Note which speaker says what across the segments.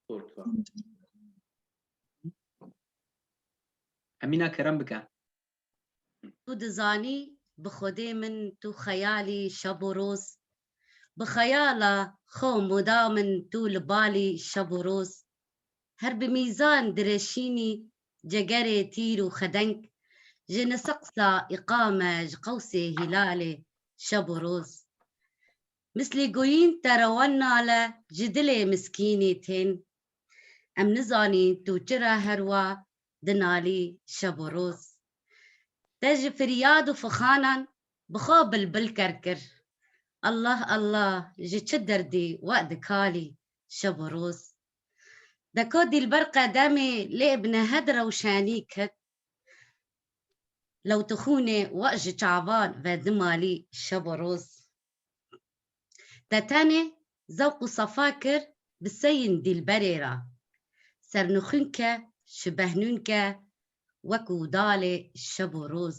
Speaker 1: Portva. Emina kerem bike. Tu dizanî bi xwedê min tu xeyalî şeb û roz Bi xeyala xwe mûdam in tu li balî şeb û roz Her bi mîzan direşînî cegerê tîr û xedeng, ji niseqsa îqame ji qewsê hîlalê şeb û roz. Mislî goyîn te rewan nale ji dilê miskînî tên. Em nizanîn tu çira herwa dinalî şeb û roz. Te ji firyad û fixanan bi xwe bilbil ker kir. Allah Allah ji çi derdî we dikalî şeb û roz. Deka Dîlber qedemê lê bi nehed rewşenî ket lewtixûnê we ji çavan ve dimalî şeb û roz. Te tenê zewq û sefa kir bi seyên Dîlberê re. Sernixûn ke ji behnûn ke wek û dalê şeb û roz.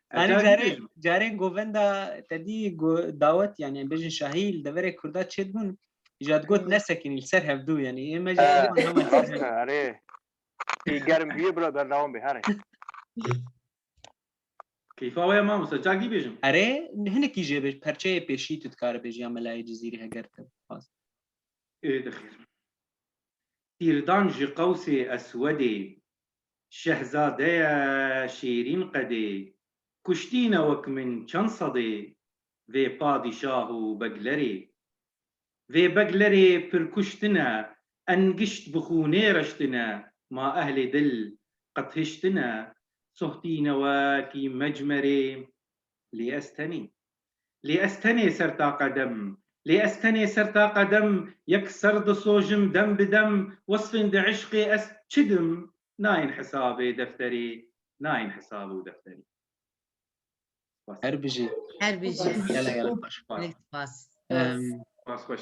Speaker 1: Anî carê carên govenda tedî dawet yani em bêjin şahî li deverê Kurda çêt bûn ja digot nesekîn li ser hevdû yani ê me jî erê ê germ bûye bira berdewam bê herê Keyfa wê ma misa çak dî bêjim. Erê hinekî jê bêj perçeyê pêşî tu dikare bêjî ya melayê cizîrî heger te bixwaz. Ê dixêr. Tîrdan ji qewsê eswedê Şehzadeya Şêrîn qedê, kuştî ne wek min çend sedê vê padîşah û beglerê. Vê beglerê pir kuştine, engişt bi xûnê reştine, ma ehlê dil qet hiştine, sohtîne wekî mecmerê, lê ez tenê. Lê ez tenê ser taqa dem Lê ez tenê ser taqa dem Yek ser disojim dem bi dem Wesfên di îşqê ez çi dim Nayên hesabê defterê Nayên hesabû defterê Her bijî. Her bijî. Gelek gelek baş. Gelek spas. Spas baş.